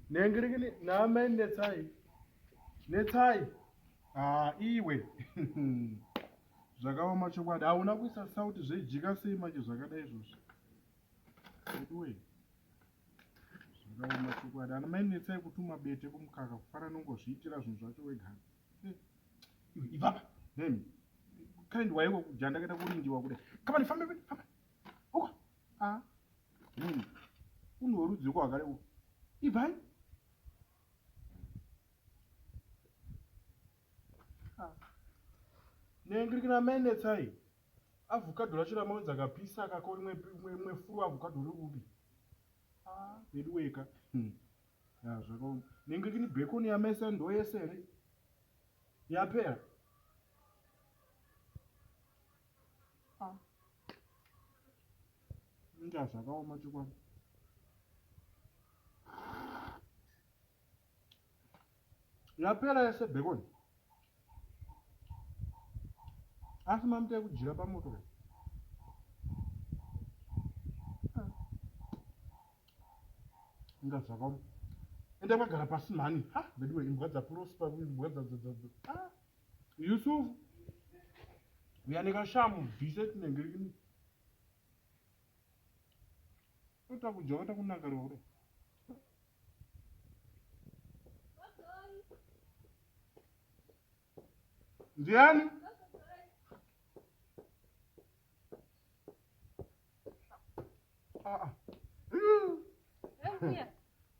Nengirigini naamai netsai. Netsai. Ah, iwe. Zvakaoma chokwadi. Hauna kuisa sauti zvejika sei manje zvakadai izvozvo. Veduwe. Zvakaoma chokwadi. Ana mai netsai kutuma bete kumukaka kufana nongozviitira zvinhu zvacho wega. Eh, iwe ibaba. Nemi. Kind waiwo kujanda kaita kurindiwa kude. Kama nifambe, famba. a ah, munhu unhu hworudziko hwakare u ibvai ah. nengirikina mainetsai avhukadho racho ramaunzi akapisa akako imwe furu avhukadho ri upi ah, vedu weka hmm. zvakaoma nengirikini bekoni yamese ndo yese here yapera Ah. Inga zvakaoma chokwadi. Yapera yese bhekoni. Asi mamita yekudyira pamoto ka. Ah. Inga zvakaoma. Enda magara pasi mhani. Ha, veduwe imbwa dzaprosper, imbwa dzadzadzadza. Ah. Yusuf uya nekashamu bvise tinenge rini otakudya vata kunaka roro ndiani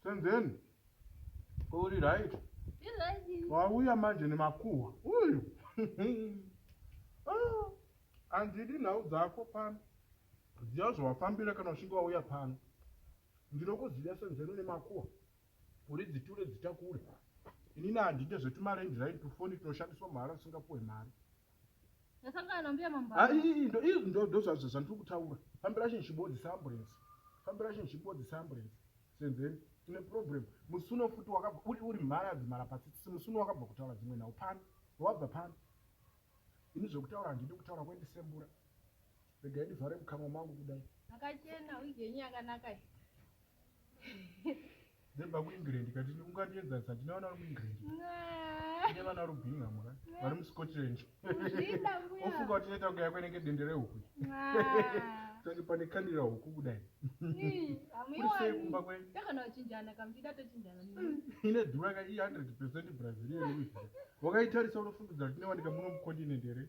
senzeni uri right wauya manje nemakuhwa uyu ah, handidi nhau dzako pano ziva zvawafambira kana uchinge wauya pano ndinokuziva senzeni une makuhwa uri dziture dzitakure inini handide zvetumarendi right tufoni tunoshandiswa mahara usingapuwe mari Ndasangana nambuya mambara. Ah, ii, ndo- ii, ndo- ndo zva- zva- zvandiri kutaura fambira chinhu chibodzisa ambulensi fambira chinhu chibodzisa ambulensi senzeni tine problem musuno futi wakabva uri uri mharadzi mhara patsitsi musuno wakabva kutaura dzimwe nhau pano wabva pano ini zvekutaura handidi kutaura kwendisembura Regai ndivhare mukanwa mangu kudai. Akachena wig yenyu yakanaka iyi. Dzebva kuEngland kati ungandiedza sa ndine vana vari muEngland. Ndine vana vari kuBingham ka. Vari muScotland. Ofunga kuti inoita kunge yako inenge dende rehuku. Tange pane kandira huku kudai. Kuri sei kumba kwenyu? Takana kuchinjana kamuchida tochinjana. Ine dhura ka i 100% Brazilian wig. Wakaitarisa unofungidzira kuti inowanika muno mukontinent here?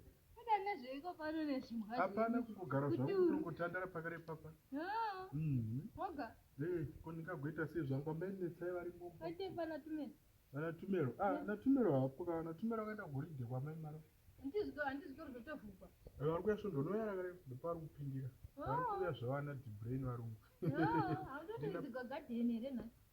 Hapana kungogara zvangu kutongotandara pakare papa. Mhm. Oga. Eh, ko ndingagoita sei zvangu amai netsai vari mumba. Kwete pana Tumelo. Pana Tumelo. Ah, na Tumelo hapo kana na Tumelo akaenda kuholiday kwa mai Maro. Handizvo, handizvo kutovhukwa. Eh, vari kuya svondo unoya rakare ndopari kupindira. Vari kuya zvavana Dibrain varungu. Handoti ndizigagadheni here nhasi.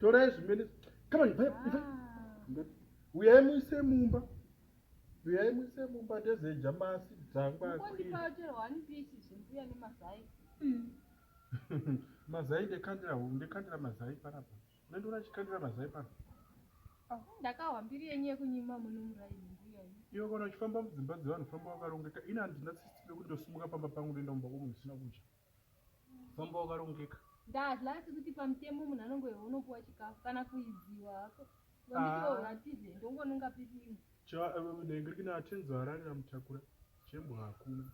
torai zvimene kama ivai ivai uyai muise mumba uyai muise mumba ndezeja masi dzangwa mazai ndekandira hu ndekandira mazai panapa nendiona chikandira mazai panapa ndakahwa mbiri yenyu yekunyima munomuraini iwe kana uchifamba mudzimba dzevanhu famba wakarongeka ini handina sisitire kuti ndosimuka pamba pangu ndoenda mumba kwomunhu zvisina kudya Mambo wakarongeka. Ndadla asi kuti pamutemo munhu anongoiwa unopuwa chikafu kana kuidziwa hako. Vamitiwo ah. vatize ndongononga pipimo. Cha eh, ndenge kina atenzo ararira mutakura. Chembo hakuna.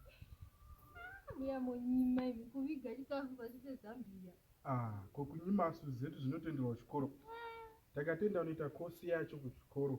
Ah, Muya monyima imi kuviga chikafu pasi pezambiya. Ah, ko kunyima suzetu zvinotenderwa kuchikoro. Ah. Takatenda unoita kosi yacho kuchikoro.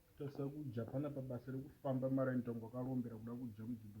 Tasakudya pana pabasa rekufamba mara ntongo akarombera kuda kudya mudzimba